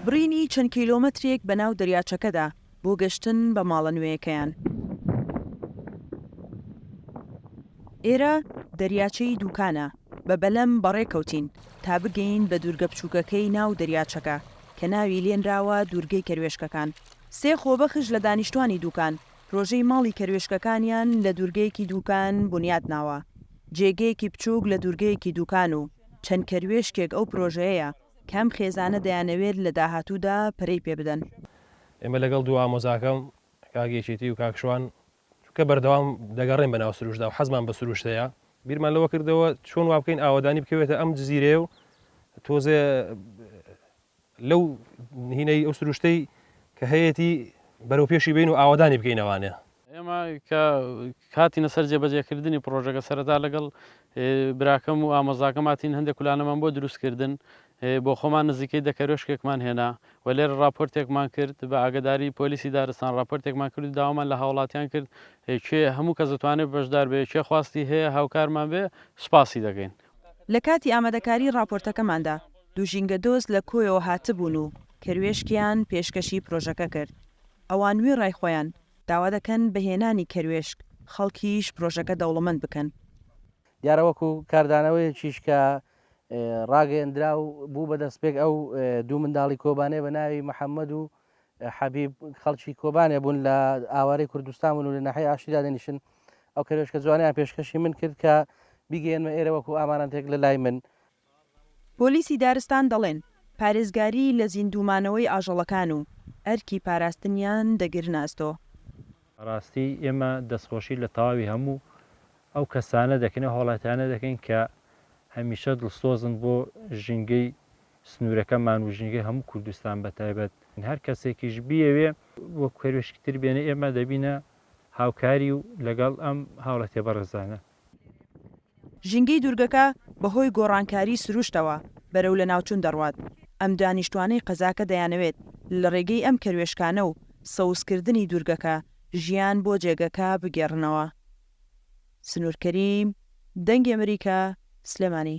بڕینی چەند کیلۆمەترێک بە ناو دەریاچەکەدا بۆ گەشتن بە ماڵە نوێیەکەیان. ئێرە دەریاچەی دووکانە، بە بەلەم بەڕێ کەوتین تا بگەین بە دوورگە بچووکەکەی ناو دەریاچەکە کە ناوی لێنراوە دوورگەی کەروێشکەکان. سێ خۆبەخش لە دانیشتوانی دووکان پرۆژەی ماڵی کەروێشکەکانیان لە دوورگەیەکی دووکان بونیات ناوە. جێگەیەکی بچووک لە دوورگەیەکی دووکان و چەند کەروێشکێک ئەو پرۆژەیەیە کە ئەم خێزانە دەیانەوێت لە داهاتوودا پەرەی پێ بدەن. ئێمە لەگەڵ دوو ئامۆزاکەم، کاک یەکێتی و کاک شوان، چونکە بەردەوام دەگەڕێین بەناو سروشتدا و حەزمان بە سروشت هەیە، بیرمان لەوە کردەوە چۆن وا بکەین ئاوەدانی بکەوێتە ئەم جزیرەیە و تۆزێ لەو هینەی ئەو سروشتەی کە هەیەتی بەرەو پێشی بێین و ئاوەدانی بکەین ئەوانە. ئێمە کە هاتینە سەر جێبەجێکردنی پڕۆژەکە سەرەتا لەگەڵ براکەم و ئامۆزاکەم هاتین هەندێک کولانەمان بۆ دروست کردن بۆ خۆمان نزیکەی دە کەرۆشکێکمان هێنا و لێرە ڕاپۆرتێکمان کرد بە ئاگداری پۆلیسی دارستان ڕاپۆرتێکمان کرد داوامان لە هاوڵاتیان کرد کێ هەموو کەس دەتوانێت بەشدار بێ کێ خواستی هەیە هاوکارمان بێ سوپاسی دەگەین لە کاتی ئامادەکاری ڕاپۆرتەکەماندا، دوو ژینگە دۆست لە کۆیەوە هاتبوون و کەروێشکیان پێشکەشی پرۆژەکە کرد. ئەوان وێڕای خۆیان، داوا دەکەن بە هێنانی کەروێشک، خەڵکیش پرۆژەکە دەوڵەمەند بکەن. دیارە وەکو کاردانەوەیەکیش کە ڕاگەیەندرا و بوو بە دەستپێک، ئەو دوو منداڵی کۆبانێ بە ناوی محەممەد و حەبیب خەڵکی کۆبانێ بوون لە ئاوارەی کوردستان بوون و لە ناحیەی ئاشتی دادەنیشن. ئەو کەروێشکە جوانەیان پێشکەشی من کرد کە بیگەیەنمە ئێرە وەکوو ئامانەتێک لەلای من. پۆلیسی دارستان دەڵێن، پارێزگاری لە زیندوومانەوەی ئاژەڵەکان و ئەرکی پاراستنیان دەگرنە ئەستۆ. بەڕاستی ئێمە دەستخۆشی لە تەواوی هەموو ئەو کەسانە دەکەین، ئەو هاوڵاتیانە دەکەین کە هەمیشە دڵسۆزن بۆ ژینگەی سنوورەکەمان و ژینگەی هەموو کوردستان بە تایبەت هەر کەسێکیش بیەوێ وەک کەروێشکی تر بێنێ ئێمە دەبینە هاوکاری و لەگەڵ ئەم هاوڵاتیە بەڕێزانە. ژینگەی دوورگەکە بەهۆی گۆڕانکاری سروشتەوە بەرەو لەناوچوون دەڕوات، ئەم دانیشتوانەی قەزاکە دەیانەوێت لە ڕێگەی ئەم کەروێشکانە و سەوزکردنی دوورگەکە ژیان بۆ جێگەکە بگێڕنەوە. سنوور کەریم، دەنگی ئەمریکا، سلێمانی.